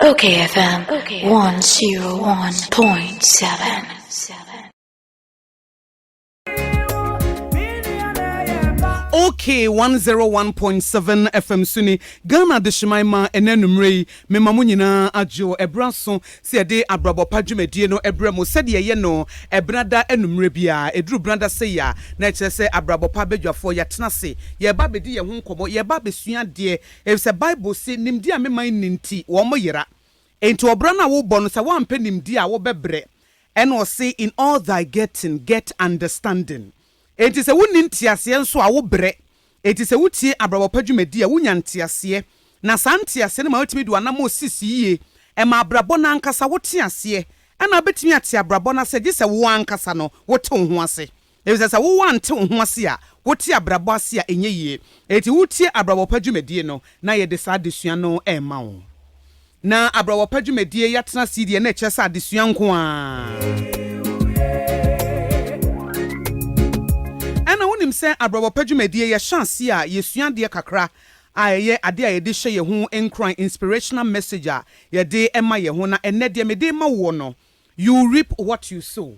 Okay, FM 101.7. okay 101.7 fm so ni ghana adehyeman ma ɛnɛ nummerɛ yi mema mo nyinaa adwo ɛberɛ so sɛ yɛde abrabɔ pa dwumadie no ɛberɛ mo sɛdeɛ ɛyɛ no ɛbenada anummerɛ biara ɛduru benada sɛ yi a na ɛkyerɛ sɛ abrabɔ pa badwafoɔ yɛatena se yɛba bɛdi yɛn ho nkɔmmɔ yɛba bɛsua adeɛ Efisɛ Bible se, Nimdeɛ a me man nni nti, wɔyera. Enti ɔbra no a wobɔ no, sɛ woampɛ nimdeɛ a, wobɛbrɛ. Ɛnna ɔse, In all thy getting, get understanding. Enti sɛ wunni nteaseɛ nso a, wobrɛ. Enti sɛ wutie abrabɔ pa dwumadi a, wunya nteaseɛ. Na saa nteaseɛ no ma woatumi de w'anammɔn sisi yie. Ɛma abrabɔ no ankasa wote aseɛ. Ɛnna wobɛtumi ate abrabɔ no ase gye sɛ wo ara ankasa no, wote wo ho ase. Efisɛ sɛ wo woante wo ho ase a, wote abrabɔ ase a ɛnyɛ yie. Enti wotie abrabɔ pa dwumadie no na yɛde saa adesua no rema wo. Na abrabɔ pa dwumadie yi atena ase yi deɛ na ɛkyerɛ sɛ adesua nko ara. Ɛna wonim sɛ abrabɔ pa dwumadie yɛhyɛ aseɛ a yɛsua adeɛ kakra a ɛyɛ adeɛ a yɛde hyɛ yɛn ho nkuran, inspirational message a yɛde ma yɛn ho. Na ɛnnɛ deɛ mede rema woɔ no, you reap what you sow.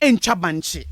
ntwa bankye,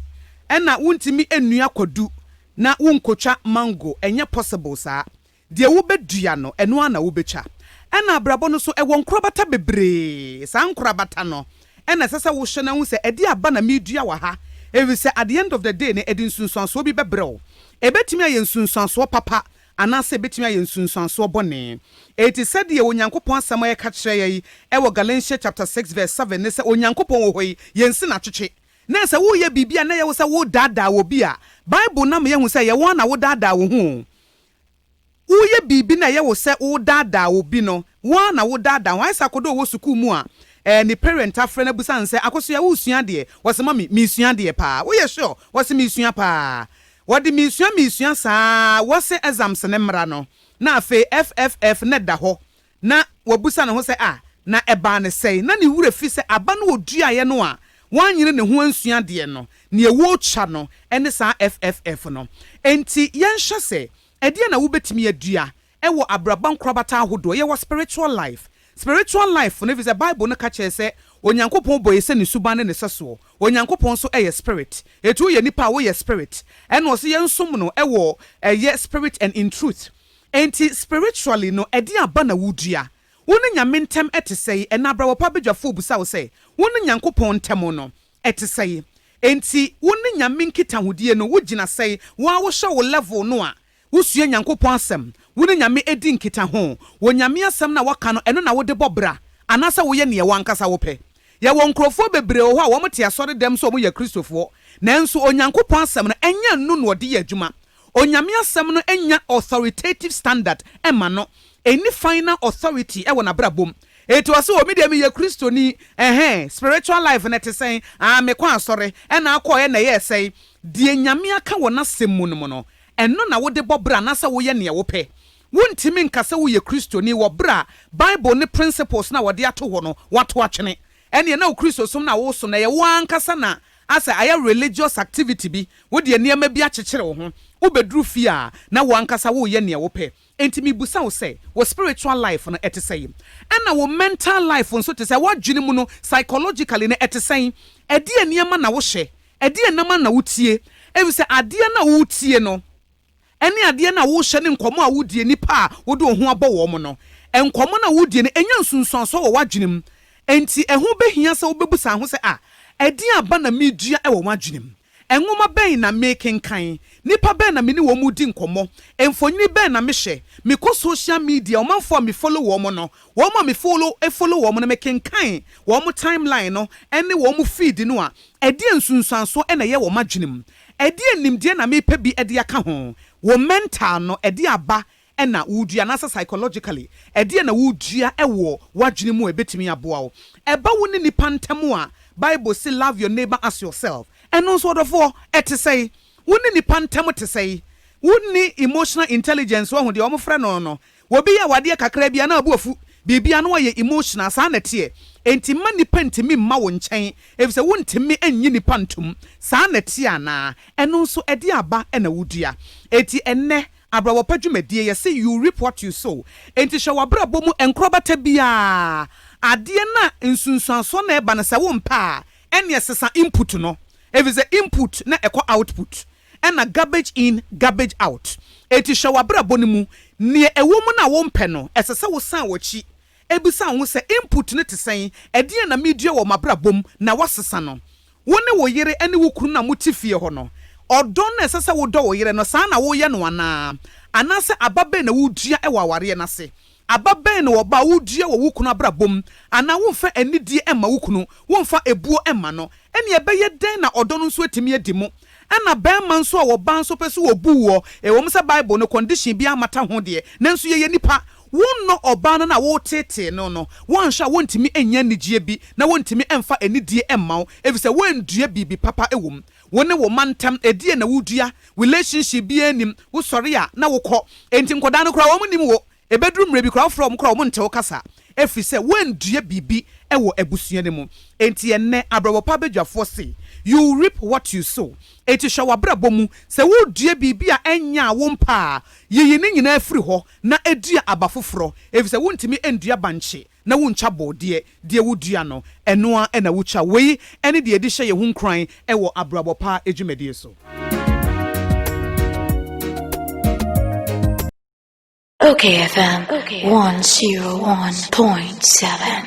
ɛna wontumi nnua kwadu na wonkotwa mango, ɛnyɛ possible saa. Deɛ wobɛdua no, ɛno ara na wobɛtwa. Ɛna abrabɔ no so, ɛwɔ nkorabata bebree, saa nkorabata no ɛna ɛsɛ sɛ wohwɛ na wohu sɛ ɛdeɛ aba na meredua wɔ ha, ɛfiri sɛ at the end of the day no ɛde nsunsuansoɔ bi bɛbrɛ wo. Ɛbɛtumi ayɛ nsunsuansoɔ papa Anaasɛ ebetumi ayɛ nsunsuansoɔ bɔne. Enti sɛdeɛ Onyankopɔn asɛm a ɛka kyerɛ yɛn wɔ Galatians chapter six verse seven ne sɛ Onyankopɔn wɔ hɔ yi, yɛnsi no atwetwe. Na sɛ woreyɛ biribi a na ɛyɛ wo sɛ woredaadaa obi a, Bible no ama yɛahu sɛ ɛyɛ wo ara na woredaadaa wo ho o. Woreyɛ biribi na ɛyɛ wo sɛ woredaadaa obi no, wo ara na woredaadaa wo ho. Ayɛ sɛ akɔda a ɔwɔ sukuu mu a ɛɛ ne parent afrɛ no abisa no sɛ, Akosua, woresua adeɛ? Ɔse, Mami, meresua adeɛ paa. Woyɛ sure? Ɔse, Meresua paa. Wɔde minsua minsua saa ara wɔse exams no mmra no na afei FFF no da hɔ na wɔbusa ne ho sɛ ah na ɛbaa no sɛn na ne werɛ fi sɛ aba no ɔduaeɛ no a wanyere ne ho ansua adeɛ no neɛ wɔtwa no ne saa FFF no. Enti yɛnhwɛ sɛ ɛdeɛn na wobɛtumi adua Ɛwɔ abrabɔ nkorabata ahodoɔ, yɛwɔ spiritual life, spiritual life no, efisɛ Bible no ka kyerɛ sɛ Onyankopɔn bɔ yɛn sɛ ne suban ne ne sɛsoɔ. Onyankopɔn nso yɛ spirit, enti woyɛ nipa a woyɛ spirit, ɛna ɔse yɛnsom no wɔ ɛyɛ spirit and in truth. Enti spiritually no ɛdeɛn aba na wodua? Wo ne Nyame ntɛm ɛte sɛn? Ɛna abrabɔ pa badwafoɔ bisa wo sɛ wo ne Nyankopɔn ntɛm no ɛte sɛn? Enti wo ne Nyame nkitahodie no wogyina sɛn? Wo ara wohwɛ wo level no a Wosua Nyankopɔn Asɛm, Wo ne Nyame di nkitaho wɔ Nyame Asɛm no a wɔka no, ɛno na wode bɔ bra, anaasɛ woyɛ nea w'ankasa wopɛ? Yɛwɔ nkurɔfoɔ bebree wɔ hɔ a wɔte asɔredɛm sɛ wɔyɛ Kristofoɔ, nanso Onyankopɔn Asɛm no ɛnyɛ ɛno na wɔde yɛ adwuma. Onyame Asɛm no nnya authoritative standard mma no, ɛnni final authority wɔ n'abrabɔ mu. Enti ɔse o, me deɛ meyɛ Kristoni, ɛhɛɛ, spiritual life no ɛte sɛn? Aah, mekɔ asɔre, ɛna akɔɔɛ na ɛyɛɛ sɛn? Deɛ Nyame aka wɔ N'Asɛm mu no mu no, Ɛno na wode bɔ bra anaasɛ woyɛ nea wopɛ? Wuntumi nka sɛ woyɛ Kristoni wɔ bere a Bible ne principles no a wɔde ato hɔ no, woato atwene. Ɛnneɛ na wo Kristosom no a woresom no, ɛyɛ wo ara ankasa na asɛ ayɛ religious activity bi. Wode nneɛma bi akyekyere wo ho. Wobɛduru fie a, na wo ankasa woreyɛ nea wopɛ. Enti mebisa wo sɛ, wo spiritual life no ɛte sɛn? Ɛna wo mental life nso te sɛn? W'adwene mu no, psychologically no, ɛte sɛn? Ɛdeɛn nneɛma na wohyɛ? Ɛdeɛn nneɛma na wotie? Efisɛ adeɛ no a wotie no, ɛne adeɛ no a wohyɛ ne nkɔmmɔ a wodie nnipa a wode wo ho abɔ wɔn no, nkɔmmɔ no a wodie no, ɛnya nsunsuansoɔ wɔ w'adwene mu. Enti ɛho bɛhia sɛ wobɛbu saa ho sɛ, Ah, ɛdeɛn aba na medua wɔ m'adwene mu? Nwoma bɛn na mekenkan? Nnipa bɛn na me ne wɔn di nkɔmmɔ? Mfonini bɛn na mehwɛ? Mekɔ social media, ɔmanfoɔ a me follow wɔn no, wɔn a me follow follow wɔn no, mekenkan wɔn timeline no ne wɔn feed no a, ɛdeɛn nsunsuansoɔ na ɛyɛ wɔ m'adwenem? Ɛdeɛn nimdeɛ na mepɛ bi de aka ho? Wo mental no, ɛde aba na woredua anaasɛ psychologically ɛdeɛn na woredua wɔ w'adwene mu a ɛbɛtumi aboa wo. Ɛba wo ne nnipa ntam a, Bible se love your neighbour as yourself. Ɛno nso ɔdɔfoɔ, ɛte sɛn? Wo ne nnipa ntam te sɛn? Wonni emotional intelligence, wahu deɛ wɔfrɛ no no? Obi yɛ wo adeɛ kakra bi a na wo bo afu, biribiara na wayɛ emotional, saa na ɛteɛ. Enti mma nnipa ntumi mma wo nkyɛn, ɛfiri sɛ wontumi nnye nnipa ntom. Saa na ɛteɛ anaa? Ɛno nso ɛdeɛn aba na wodua? Enti ɛnnɛ, Abrabɔpa Dwumadie, Yɛse you reap what you sow, enti hyɛ w'abrabɔ mu nkorabata biara. Adeɛ no a nsunsuansoɔ no ɛba no sɛ wo mpɛ a, ɛneɛ sesa input no, ɛfiri sɛ input na ɛkɔ output, ɛna garbage in, garbage out. Enti hyɛ w'abrabɔ no mu, neɛ ɛwɔ mu no a wo mpɛ no, ɛsɛ sɛ wo san w'akyi Ebisa wo sɛ, 'Input no te sɛn? Ɛdeɛn na medua wɔ m'abrabɔ mu na woasesa no? Wo ne wo yere ne wo kunu no a mote fie hɔ no, ɔdɔ no a ɛsɛ sɛ wodɔ wo yere no, saa na woyɛ no anaa? Anaasɛ aba bɛn na wodua wɔ awareɛ no ase? Aba bɛn na ɔba a wodua wɔ wo kunu abrabɔ mu? Anaa womfa anidie mma wo kunu? Womfa ebuo mma no? Ɛnneɛ ɛbɛyɛ dɛn na ɔdɔ no nso atumi adi mu? Ɛna barima nso a ɔbaa nso pɛ sɛ wɔbu woɔ, ɛwɔ mu sɛ Bible no condition biara mmata ho deɛ, nanso yɛyɛ nnipa, Wonnɔ ɔbaa no na woteetee no no, woanhwɛ a worentumi nnya anigyeɛ bi na worentumi mfa anidie mma wo efisɛ woanndua biribi papa wɔ mu. Wo ne wo mma ntam, ɛdeɛn na wodua? Relationship biara nnim, wosɔre a na wokɔ. Enti nkwadaa no koraa wɔn nnim wo. Ɛbɛduru mmerɛ bi koraa wofrɛ wɔn koraa wɔn nte wo kasa ɛfiri sɛ woanndua biribi wɔ abusua no mu. Enti ɛnnɛ abrabɔ pa badwafoɔ se, you reap what you sow. Enti hwɛ w'abrabɔ mu, sɛ wodua biribi a ɛnyaa wo mpa a, yiyi ne nyinaa firi hɔ na edua aba foforɔ, efisɛ wontumi nnua bankye na wontwa borɔdeɛ, deɛ wodua no, ɛno ara na wotwa. Wei ne deɛ yɛde hyɛ yɛn ho nkuran wɔ abrabɔ pa dwumadie so. Ok FM one zero one point seven.